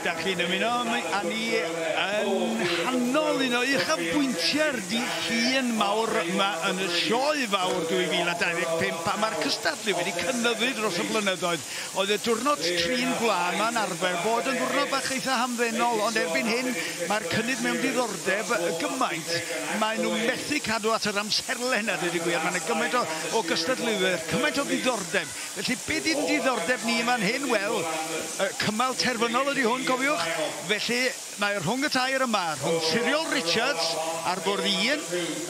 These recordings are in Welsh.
Dach chi'n ymuno â ni yn nghanol un o uchafbwyntiau'r dydd Llun mawr yma yn y Sioe Fawr 2025 pan mae'r cystadlu wedi cynyddu dros y blynyddoedd. Oedd y diwrnod trin gwlân 'ma'n arfer bod yn ddiwrnod bach eitha' hamddenol ond erbyn hyn mae'r cynnydd mewn diddordeb gymaint maen nhw methu cadw at yr amserlen a deud y gwir. Mae 'na gymaint o gystadleuwyr, cymaint o ddiddordeb Felly, beth y'n diddordeb ni yn fan hyn? Wel, y cymal terfynol ydy hwn, cofiwch. Felly, mae rhwng y tair yma, rhwng Siriol Richards ar fwrdd un,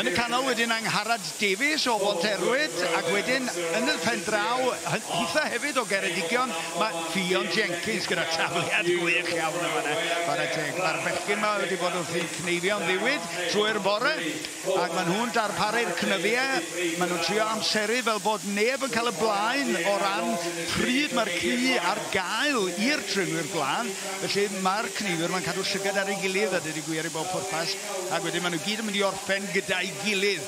yn y canol wedyn Angharad Davies o Bonterwyd, ac wedyn yn y pen draw, hitha hefyd o Geredigion, mae Ffion Jenkins gyda tafliad gwych iawn yn fan'na, chwarae teg. Mae'r bechgyn 'ma wedi bod wrthi'n cneifio'n ddiwyd trwy'r bore. Ac maen nhw'n darparu'r cnyddiau, maen nhw'n trio amseru fel bod neb yn cael y blaen o ran pryd mae'r ci ar gael i'r trenwyr gwlân. Felly mae'r cneifwyr mae'n cadw llygad ar ei gilydd a dydy gwir i bob pwrpas, ac wedyn maen nhw gyd yn mynd i orffen gyda'i gilydd.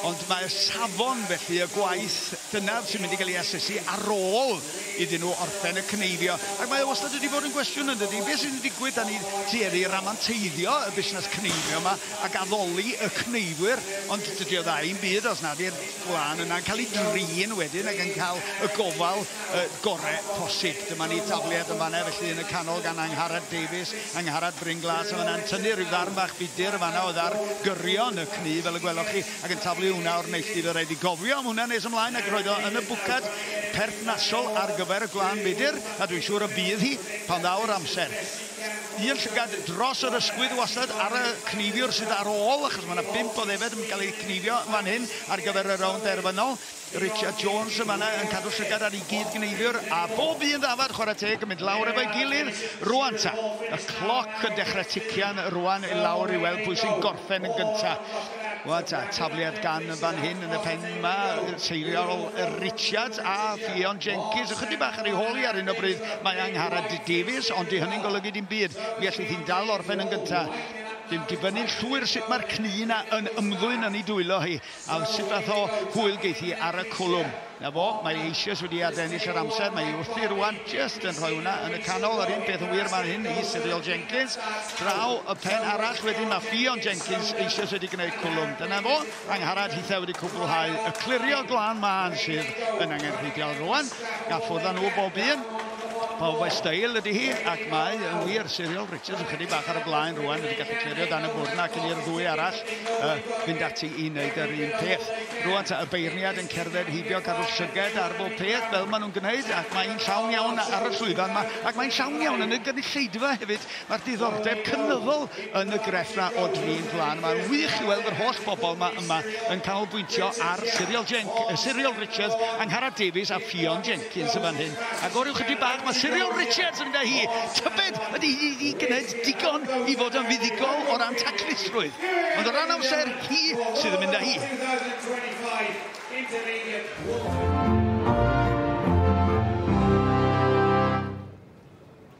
Ond mae safon felly y gwaith, dyna sy'n mynd i gael ei asesu ar ôl iddyn nhw orffen y cneifio. Ac mae o wastad wedi bod yn gwestiwn yn dydy, beth sy'n digwydd da ni tueddu i ramanteiddio y busnes cneifio yma, ac addoli y cneifwyr, ond dydy o dda i'm byd os nad yw'r gwlân yna'n cael ei drin wedyn ac yn cael y gofal yy gore posib. Dyma ni tafliad yn fan'na felly yn y canol gan Angharad Davies, Angharad Bryn Glas yn fan'na'n tynnu rhyw ddarn bach budr yn fan'na o ddar gyrion y cneif fel y gwelwch chi ac yn taflu hwnna o'r neilltu, fe raid fi gofio am hwnna nes ymlaen ac roedd o yn y bwcad perthnasol ar gyfer y gwlân budr a dwi'n siŵr y bydd hi pan ddaw'r amser. Un llygad dros yr ysgwydd wastad ar y cneifiwr sydd ar ôl, achos mae yna bump o ddefed yn cael eu cneifio fan hyn ar gyfer y rownd derfynol. Richard Jones yn fanna yn cadw llygad ar ei gyd-gneifiwr, a bob un ddafad, chwarae teg, yn mynd lawr efo'i gilydd. Rwan ta, y cloc yn dechrau tician rwan i lawr i weld pwy sy'n gorffen yn gyntaf. Wel, ta, tafliad gan yn fan hyn yn y pen yma, seiriol Richards a Ffion Jenkins. Ychydig bach ar ei hôl i ar un o bryd mae Angharad Davies, ond di hynny'n golygu dim byd. Mi allith hi'n dal orffen yn gyntaf. Dim dibynnu'n llwyr sut mae'r cni yna yn ymddwyn yn ei dwylo hi, a sut fath o hwyl geith hi ar y cwlwm. 'Na fo, mae eisioes wedi adennill yr amser, mae wrthi rwan, just yn rhoi hwnna yn y canol, yr un peth yn wir fan hyn i Cyril Jenkins, draw y pen arall wedyn, mae Ffion Jenkins eisioes wedi gwneud cwlwm, dyna fo, Angharad Hithau wedi cwblhau y clirio glân mân sydd yn angenrheidiol rwan, a ffwrdd nhw bob un, pawb o'i stael ydy hi, ac mae yn wir, Cyril Richards yn chydig bach ar y blaen rwan, wedi gallu clirio dan y bwrna ac yn i'r ddwy arall uh, fynd ati i wneud yr un peth. Rwan ta y beirniad yn cerdded heibio cadw'r llyged ar bob peth fel maen nhw'n gwneud ac mae'n llawn iawn ar y llwyfan yma ac mae'n llawn iawn yn y gynulleidfa hefyd. Mae'r diddordeb cynyddol yn y grefft yna o drin plan. Mae'n wych i weld yr holl bobl yma yma yn canolbwyntio ar Cyriel Jenc, Cyriel Richards, Angharad Davies a Ffion Jenc. Hopkins yn fan hyn, ac oryw chydig bach mae Cyrion Richards yn mynd â hi. Tybed ydy hi wedi gwneud digon i fod yn fuddugol o ran taclusrwydd, ond o ran amser, hi sydd yn mynd â hi.